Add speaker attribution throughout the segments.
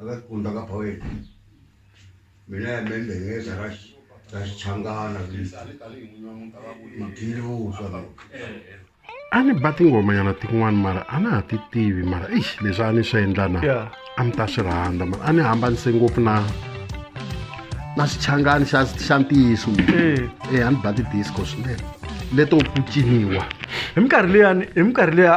Speaker 1: akakunda ka
Speaker 2: phaweti mina ya membengeza ra ra xichangana
Speaker 3: mugili vuswa
Speaker 2: lowu
Speaker 3: a ni ba tingomanyana tin'wana mara a na ha ti tivi mara ix leswi a ni swi endla na Yeah. a ni ta swi rhandza mara a ni hambanise ngopfu na na xichangani xa xa ntiyiso Eh. e a ni ba ti-disco swinene leto ku ciniwa hi minkarhi
Speaker 4: leyani hi minkarhi leya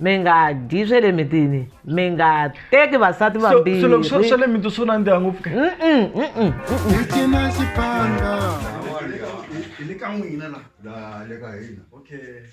Speaker 5: mi nga dyi swe le mitini mi nga teki vasati vambirhi swa le
Speaker 4: miti swo nandziha ngopfu ke Hi le ka n'wina la. La
Speaker 3: le ka hina. Okay.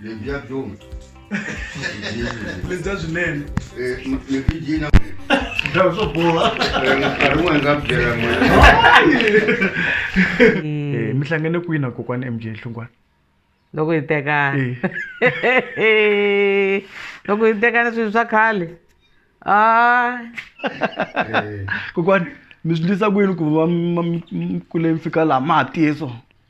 Speaker 4: lebyi
Speaker 2: ya
Speaker 4: byona lebya swinene
Speaker 2: mibijina swo boha nkarhi wun'wana nga byela
Speaker 4: eh, mi hlangane kwini na kokwani mj hlungwana loko hi
Speaker 5: tekana eh. loko hi tekana swilo swa khale a
Speaker 4: eh. kokwani mi swi ndlisa kwini ku va mi kule mi fika laha ma ha tiye swona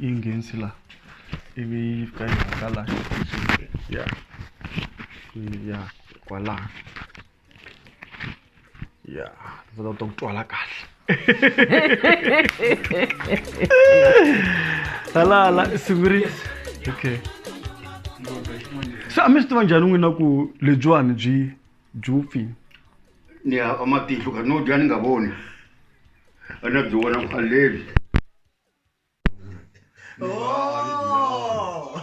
Speaker 4: ingenzi la ivi yi fika yi hangalaka ya ya kwalaho ya ndzi ta ku twala kahle hala hala siviri okay se a mi swi tiva njhani n'wina ku lebyiwani byi Jufi. Ni
Speaker 2: ya amatihlo ka no dya ni nga voni. A na byi vona ku aleli. Oh!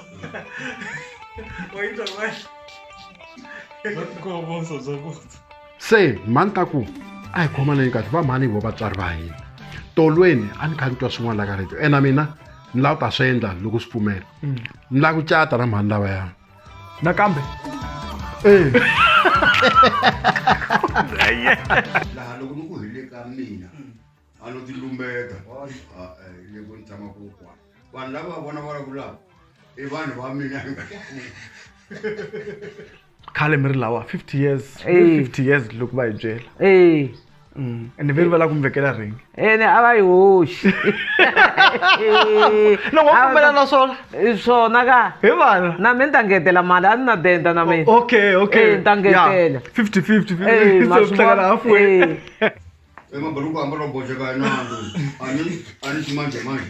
Speaker 2: Wait a
Speaker 3: minute. se mhani ta ku a hi khomaneni kahle va mhani hi vo vatswari va hina tolweni a ni kha ni twa swin'wana la ka radio ena mina ni lava ku ta swi endla loko swi pfumela ni lava ku cata na mhani lavaya nakambe
Speaker 4: eh.
Speaker 2: laha loko ni ku hile ka mina a no ti lumbeka ah, eh, le ku ni tshama ku kwana vanhu lava va vona vulavulaka i vanhu va mina
Speaker 4: khale mi ri lawa 50 years 50 years loko va hi byela Mm. ene veri va lava ku mi vekela ringi ene a va yi
Speaker 5: hoxi
Speaker 4: loko va pfumela na swona swona ka
Speaker 5: hi vana na mi
Speaker 4: ni ta ngetela
Speaker 5: mali a ni na denda na mina okay okay ni ta
Speaker 4: ngetela
Speaker 5: fifty
Speaker 4: fifty hlekela hafu emaburuku
Speaker 2: ambalo boxeka inando ani ani ximanjemanje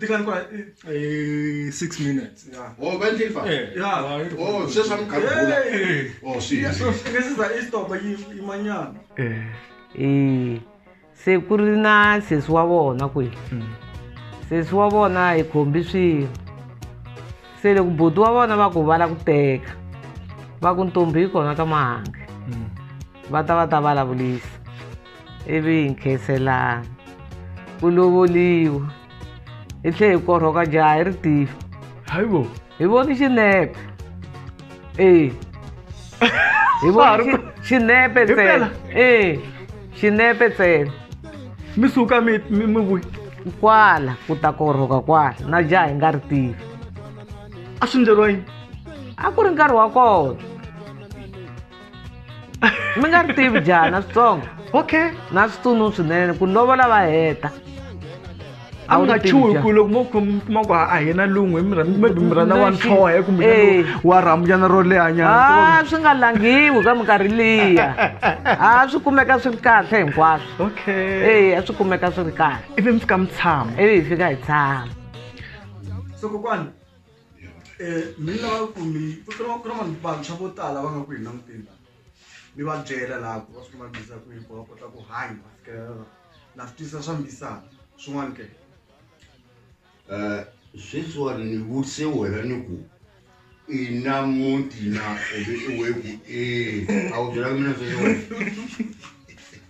Speaker 4: tikani
Speaker 2: kwa eh 6 minutes
Speaker 4: yeah oh va ndleli
Speaker 2: fa eh yeah oh sweswi va muganga bula oh
Speaker 4: swi so fika siza i stop yi imanyana eh eh
Speaker 5: se ku ri na sesi wa vona kwihi hmm. sesi wa vona hi khombi swilo se loko buti wa vona va ku va la ku teka va ku ntombi yi kona ka mahange hmm. va ta va ta vulavulisa ivi hi nkhenselana ku lovoliwa hi tlhe hi korhoka jaha hi ri tifi hayi bo
Speaker 4: hi voni
Speaker 5: xinepe ee hi voni xi- xinepe Hi ntsena mpela? ee xinepe ntsena mi suka
Speaker 4: mi mi mi vuyi kwala
Speaker 5: ku ta korhoka kwala na jaha hi nga ri tivi a
Speaker 4: swi ndleriwa yini a ku ri nkarhi
Speaker 5: wa kona mi nga ri tivi jaha na switsongo okay na
Speaker 4: switsunu
Speaker 5: swinene ku lovola va heta
Speaker 4: a mi nga chuhi ku loko mo
Speaker 5: kuma
Speaker 4: ku a hi na lungwe maybe mi rhandza wa ntlhohe kumbe eh. wa rhambyana ro lehanyana a swi nga langhiwi
Speaker 5: ka minkarhi liya a swi kumeka swi ri kahle hinkwaswo okay e a swi
Speaker 4: kumeka swi ri
Speaker 5: kahle ivi mi fika mi tshama
Speaker 4: ivi hi fika hi tshama so kokwana mina lava ku mi ku ri ku ri vanhu vantshwa vo tala va nga ku hi languteni mi va byela laha ku va swi va bisa ku hikuva va kota ku hanya va fikelela na swi tisa swa mbisana swin'wana ke
Speaker 2: um sweswiwani ni vutise wena ni ku i na muti na ebe i we ku e a wu byelaka mina sweswiwani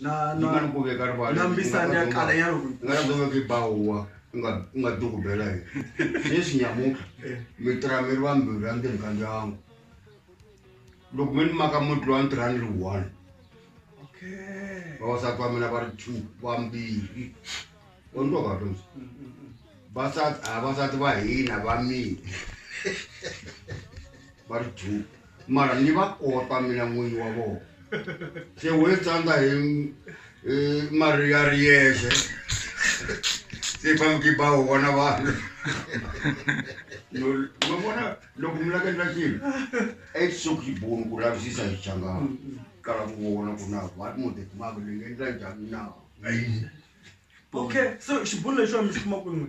Speaker 2: na na
Speaker 4: na ku veka
Speaker 2: rivala na mbisani ya
Speaker 4: kala ya loko nga ku veka bawa
Speaker 2: nga nga duku bela hi leswi nyamuka eh. mi tra mi ri va mbirhi ya ndeni ka ndyangu loko mi ni maka muti lowa ntirha ni ri one okay vavasati va mina va ri two va mbirhi u ni twa kahle ndzi mm, mm, mm. vasati a vasati va hina va mina va ri two mara ni va kota mina n'winyi wa vona se wo tsandza hi mari ya ri yexe se famki ba wu vona vanhu ma vona loko mi laka endla xilo i suk yi boni ku lavisisa hi changana kala ku vona ku na va mo de ma le ngi ndla njhani na okay
Speaker 4: so xibunu lexi wa mi xi kuma ku
Speaker 2: n'we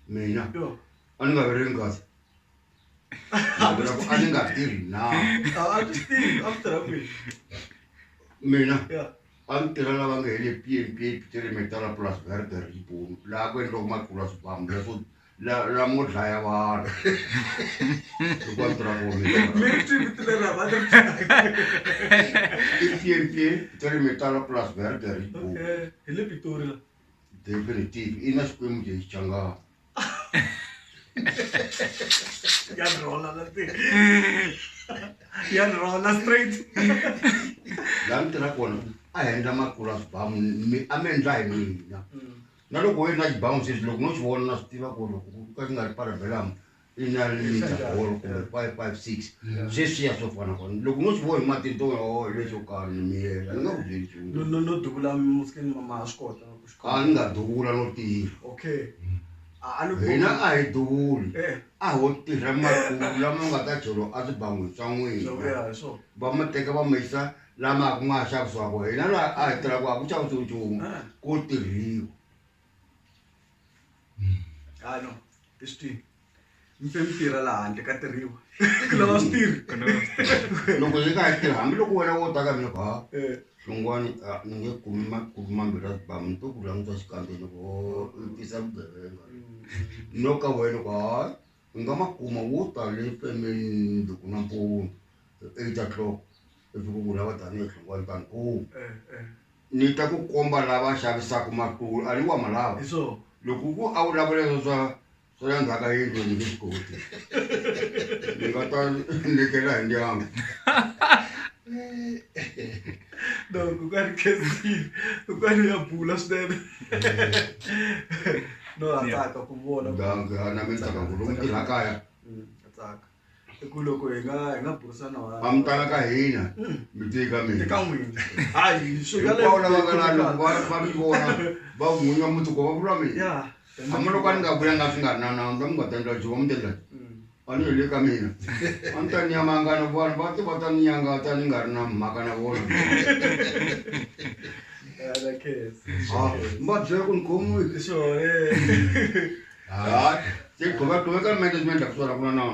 Speaker 2: mina a ni nga
Speaker 4: ve ri
Speaker 2: nkazi a ni nga tirhi na mina
Speaker 4: a ni tirha lava
Speaker 2: nga hele pmp tiremetala plus verde ribon laha ku endliwaka matlula swibamu leswo lamo dlaya vanhu hikuva ni tirha
Speaker 4: komiipmp
Speaker 2: tiremetala plus verde ribon
Speaker 4: definitive
Speaker 2: i na xikwembu lexi changaka
Speaker 4: ya rhola la ti ya rhola straight
Speaker 2: laha ni tirha kona a hi endla makulu a swibamu mi a mi endla hi mina na loko u ri na xibamu sweswi loko no xi vona na swi tiva ku loko ku ka xi nga ri parabelamu sweswiya swo fana kona loko no swi vona hi matihlo o leswo karhi ni miyela ni nga ku byeli nchumu no no no duvula musikeni
Speaker 4: mama ha swi kota ku swi a ni nga duvula no
Speaker 2: tirha okay
Speaker 4: a ni hina a hi duvuli
Speaker 2: a ho
Speaker 4: tirha
Speaker 2: makulu lama nga ta jolo a swi bangwi swa n'wina va ma
Speaker 4: teka va ma
Speaker 2: yisa lama ku ma xavisiwaka hina laha a hi tirhaka a ku xavisiwi nchumu ko tirhiwa
Speaker 4: hayi no i swi tivi mi fe mi tirha laha handle ka tirhiwa ku lava swi tirhi ku lava swi tirhi loko yi nga tirhi
Speaker 2: hambiloko wena wo taka ni ha Eh, swin'wana a ni nge kumi ma- kumi mambirhi a zibamu ni to ku languta xikandzeni ko i tisa vugevenga no ka wena ku hayi U nga ma kuma wo ta le Furmanville nampundzu hi 8 o'clock ivi ku vula va Daniel Hlongwane ta ni kumi ni ta ku komba lava xavisaka matulu a ni wa malava loko ku a vulavula leswo swa swa la ndzhaku ka yindlu ni nge swi koti ni nga ta lekela hi ndyangu
Speaker 4: no kokwani kesile kokwani ya bula swinene no a tsaka ku vona na mi tsaka
Speaker 2: ku lomu tirha kaya mm, a tsaka
Speaker 4: i ku loko hi nga hi nga burisana wa a mi tala ka
Speaker 2: hina mm. mi te ka mina ka n'wina
Speaker 4: hayi swi nga lava ka lana
Speaker 2: va va mi vona va n'winga muti ko va vula mina hambi loko
Speaker 4: a ni nga
Speaker 2: vulanga swi nga ri na nawu ni ta mi nga ta endla jiwa mi ta endla a ni heli ka mina a ni ta ni yamangana vanhu va ti va ta ni nyangata ni nga ri na mhaka na vona mi va byela ku ni khomiwi hayi se gqoka gqoka ka management la ku swona ku na nawu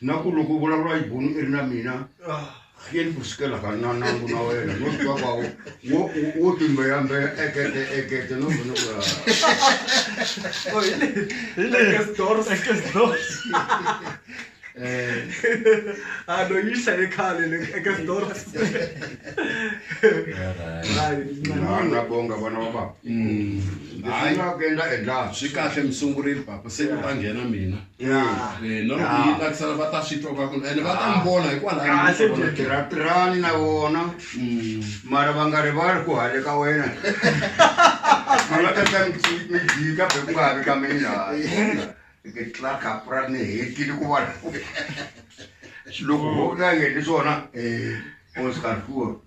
Speaker 2: na ku loko u vulavula xibunu i ri na mina hleni ku sukela ka na nangu na wena no swi twa kwawo wo wo timbeyambeya ekete ekete no vona ku Oh, hi le- Hi le- Ekes Dors. Ekes Dors.
Speaker 4: um Ah, no, yi hlaye khale le eka Dors. Hayi,
Speaker 2: na nani. na bonga vana va baba Mm. leswi Hayi. nga ku endla endlaka swi kahle mi
Speaker 3: sungurile papa se ku ta nghena mina tirhatirhani na
Speaker 2: vona mm. mara va nga rivali ku hale ka wena alatata mijika be ku nga havi ka mina ke tla kapra ni hetile ku vona loko ho ka yeni swona eh, o swi karhiwa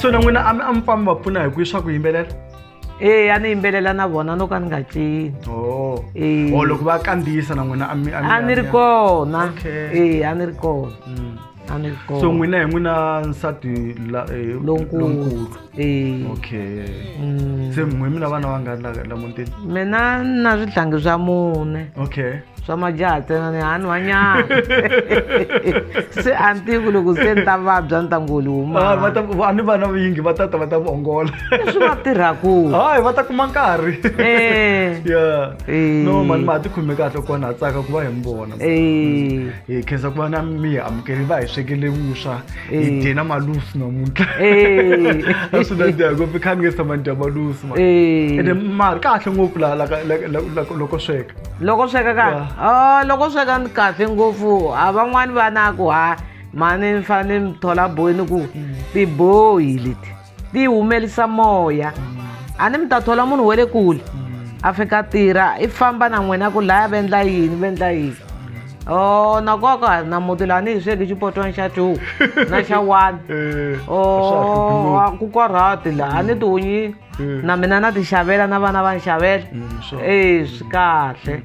Speaker 4: so na n'wina a mi a mi pfambi va pfuna hi ku swa ku yimbelela ee a ni
Speaker 5: yimbelela na vona no ka ni nga cini oh. e o oh,
Speaker 4: loko va kandziyisa na n'wina a ni ri
Speaker 5: kona ee a ni ri kona mm. a ni ri kona
Speaker 4: so n'wina hi n'wina nsati eh, lonkulu Eh, okay mm. se mwe mina vana va nga la la muntini mina ni na
Speaker 5: swihlangi swa mune okay swa
Speaker 4: majaha
Speaker 5: ntsena ni hani wanyana se a ni tivi ku loko se ni ta vabya ni ta ngoli humava ni vana
Speaker 4: vingi va tata va ta mi ongola leswi va tirhaku
Speaker 5: hayi va ta kuma
Speaker 4: nkarhi eh. ya eh. no mani ma ha ti khome kahle kona ha tsaka ku va hi mi vona eh. hi khensa ku va na mi amukeli va hi swekele vuswa ijeni amalusi namuntlaa swi nandziha ngopfu i kha ni nge samani dya malusi ma ende mari kahle ngopfu loko sweka loko sweka ka
Speaker 5: ah, loko sweka ni kahle ngopfu a ah, van'wani va na ku ha mani ni fanele ni thola boyi ni ku mm. tiboyi leti ti humelisa moya a ni mi ta thola munhu wa le kule a fika tirha i famba na n'wina ku laya vendla yini vendla yini o oh, na koka na muti laha ni hi sweki xipotwana xa two na xa one eh, o oh, ku korhati laha a ni tihunyi eh. na mina na ti xavela na vana va ni xavela mm, e swi kahle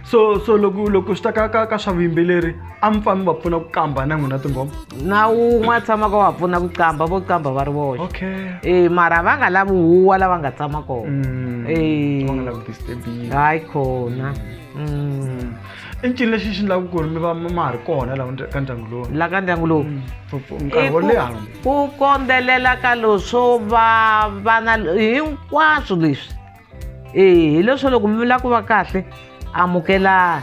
Speaker 5: so so
Speaker 4: loko loko swi ta ka ka ka swa vuyimbeleri a mi pfa mi va pfuna ku kamba na n'wina tinghoma na wun'we a
Speaker 5: tshamaka wa pfuna ku qamba vo qamba va ri voxe okay e mara
Speaker 4: va nga lavi
Speaker 5: huwa lava nga tshama kona Mm. Eh. Va nga lavi ku
Speaker 4: disturbiwa. hayi khona
Speaker 5: Mm.
Speaker 4: i ncini lexi xi endlaka ku ri mi va mi ma ha ri kona laha ndya- ka ndyangu lowu la ka ndyangu lowu
Speaker 5: For- for nkarhi wo
Speaker 4: leha I ku- ku kondzelela
Speaker 5: ka leswo va vana hinkwaswo leswi eyi hileswo loko mi lava ku va kahle amukelani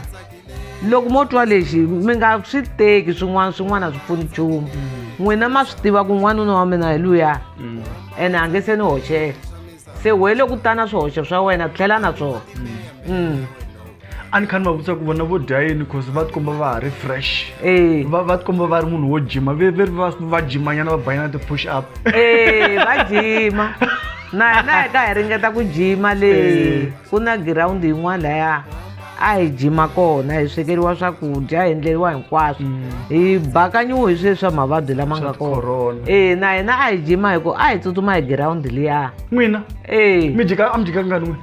Speaker 5: loko mo twa lexi mi nga swi teki swin'wana swin'wana a swi pfuni nchumu mm. n'wina ma swi tiva ku n'wanuna wa mina hi luya mm. ene a nge se ni hoxela se wele ku tana swihoxo swa wena tlhela na swona mm.
Speaker 4: a ni kha ni va vutisa ku vona vo dya yini cause va tikomba va ha ri fresh Eh. va va tikomba va ri munhu wo jima ve ve ri va va jimanyana va banyana ti-push up Eh, va
Speaker 5: jima na hina hi ka hi ringeta ku jima le Eh. ku na girawundi yin'wana laya a hi jima kona hi swekeriwa swakudya hi endleriwa hinkwaswo hi bakanyiwe hi sweswi swa mavabyi lama nga Mm. Swa corona. kona e na hina a hi jima hi ku a hi tsutsuma hi girawundi liya n'wina e
Speaker 4: mi jika a mi jika ngani n'wina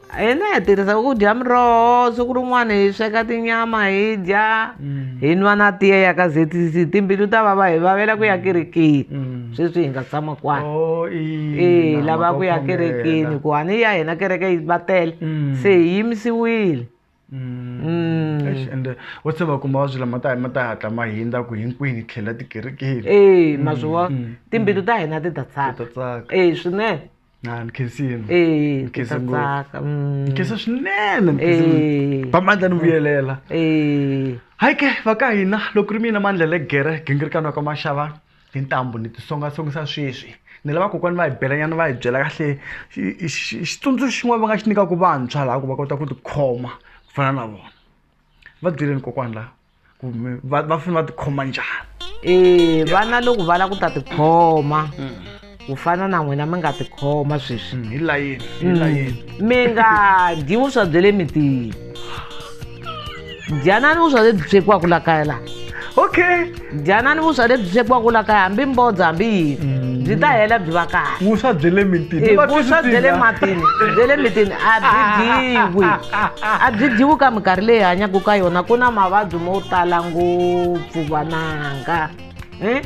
Speaker 4: hina hi tirhisa
Speaker 5: ku dya miroho siku rin'wana hi sweka tinyama hi dya mm. hi nwa na tiya ya ka zetisi timbilu ta vava hi vavela ku ya mm. kerekeni mm. sweswi hi nga tshama kwana oh, e lava ku ya kerekeni ku hani ya hina kereke yi va tele se hi yimisiwile Mm. Eish,
Speaker 4: ende wa se va kuma va swi lama ta ma ta hatla ma hindza ku hinkwini tlhela tikerekeni ee ma swi vona Mm,
Speaker 5: timbilu ta hina ti ta ta tsaka tsaka ee swinene na ni
Speaker 4: khensini ee ti Nkhensa ta ngopfu. tsaka mm.
Speaker 5: nkhensa swinene ni khensile. ee
Speaker 4: va mandla ni vuyelela ee hayi ke va ka hina loko ri mina mandla legere gingirikano ka maxava tintambu ni tisongasongisa sweswi ni lava kokwani va hi belanyana va hi byela kahle xitsundzuxo xin'wana va nga xi nyikaka vantshwa laha ku va kota ku tikhoma ku fana na vona va byeleni kokwani laha ku va va fanele va tikhoma njhani e vana loko va
Speaker 5: lava ku ta tikhoma mm. ku fana na n'wina mi nga tikhoma sweswi mm, hi layeni hi mm.
Speaker 4: layeni mi nga
Speaker 5: dyi vuswa bya le mitini dyanani vuswa lebyi swekiwaka la kaya laha okay
Speaker 4: dyanani vuswa
Speaker 5: lebyi swekiwaka la kaya hambi mbodza hambi yini mm. byi ta hela byi va kahle vuswa bya le mitini
Speaker 4: vuswa bya le
Speaker 5: matini bya le mitini a byi dyiwi a byi dyiwi ka minkarhi leyi hanyaka ka yona ku na mavabyi mo tala ngopfu vananga e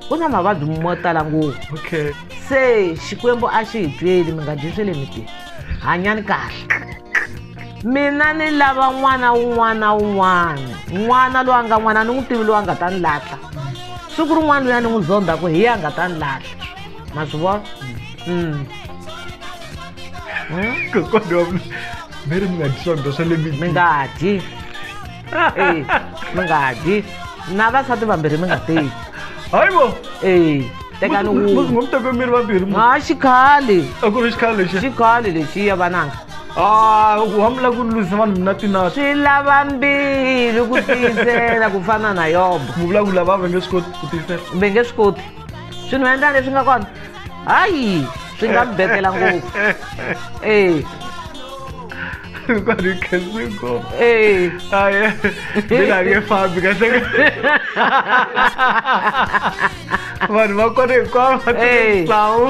Speaker 5: ku na mavabyi mo tala ngopfu okay se
Speaker 4: xikwembu
Speaker 5: a xi hi tweli mi nga dyi swe le miti hanyani kahle mina ni lava n'wana wun'wana na wun'wana n'wana loyi a nga n'wana ni n'wi tivi loyi a nga ta ni lahla siku rin'wana loyi a ni n'wi zondha ku hi ya nga ta ni lahla ma swi
Speaker 4: vona mm. hmm? mi nga dyi swakudya swa le mi nga dyi
Speaker 5: Eh, mungadi na vasati vambirhi mi nga teki hayibo
Speaker 4: Eh, tekani
Speaker 5: wun'we ngomtekemiri
Speaker 4: vambirhi mu- ha xikhale
Speaker 5: a ku ri xikhale lexi
Speaker 4: xikhale lexiya
Speaker 5: vananga Ah,
Speaker 4: hambi la ku lwisa vanhu mina tinati swi lava
Speaker 5: mbili ku tiyisela ku fana na yobo mu vulavula va va nge
Speaker 4: swi koti ku tiyisela ve nge swi koti
Speaker 5: swi ni endla leswi nga kona hayi swi nga mi betela ngopfu e
Speaker 4: kwani khensi ngopfu e aye
Speaker 5: mina
Speaker 4: nge fambi kahle vanhu va kona hinkwavo va tisawu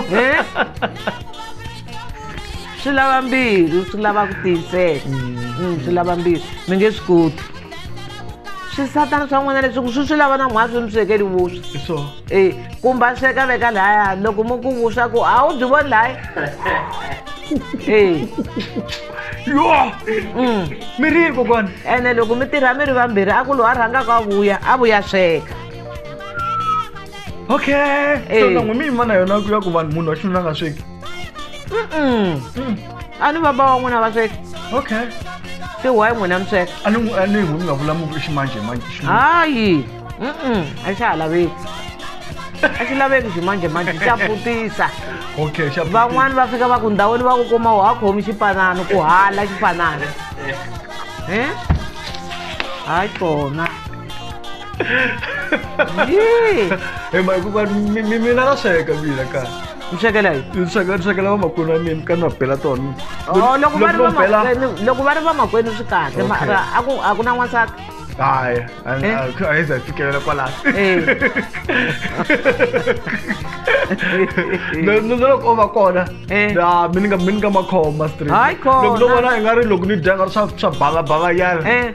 Speaker 5: swi lava mbilu swi lava ku tiyisela mm, swi lava mbilu mi nge swi koti swisatana swa n'wina leswi ku swi swi lava na mhwazi mi swekeli vuswa so e kumba sweka veka laya loko mi ku vuswa ku a wu byi voni laya e
Speaker 4: yo mm. mi ri kokwana ene loko mi tirha
Speaker 5: mi ri vambirhi a ku lowu a rhangaka a vuya a vuya sweka
Speaker 4: okay so na n'wi mi yima na yona ku ya ku vanhu munhu wa xinuna nga sweki
Speaker 5: a ni baba wa n'wina vasweka okay
Speaker 4: se why
Speaker 5: n'wina misweka a ni n'wi- a ni n'wi mi nga
Speaker 4: vulamuki ximanjemanje xi- hayi
Speaker 5: mm-mm, a xi ha laveki a xi laveki ximanjemanje xa putisa okay xa
Speaker 4: van'wani va fika va
Speaker 5: ku ndhawini va ku kuma wa khomi xipanano ku hala xipanano Eh? hayi kona Yee!
Speaker 4: Eh, ma hikuva mi mi- mina na sweka mina ka mi swekela yi
Speaker 5: ni sweka ni swekela vamakwenu
Speaker 4: wa mina ka ni va bela tona Oh, loko va ri no bela vamakwenu
Speaker 5: loko va ri vamakwenu swi kahle Okay. mara a ku a ku na n'wansati hayi
Speaker 4: Eh? a yi za fikelela kwalaho Eh. No- no- no loko o va kona Eh. na mi ni nga mi ni nga makhoma straight Hayi khona. loko no vona i nga ri loko ni dya nga ri swa swa banga banga yana Eh.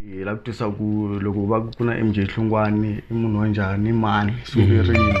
Speaker 4: hi lava ku tisa ku loko va ku na mj hlungwani i munhu wa njhani mani sukerini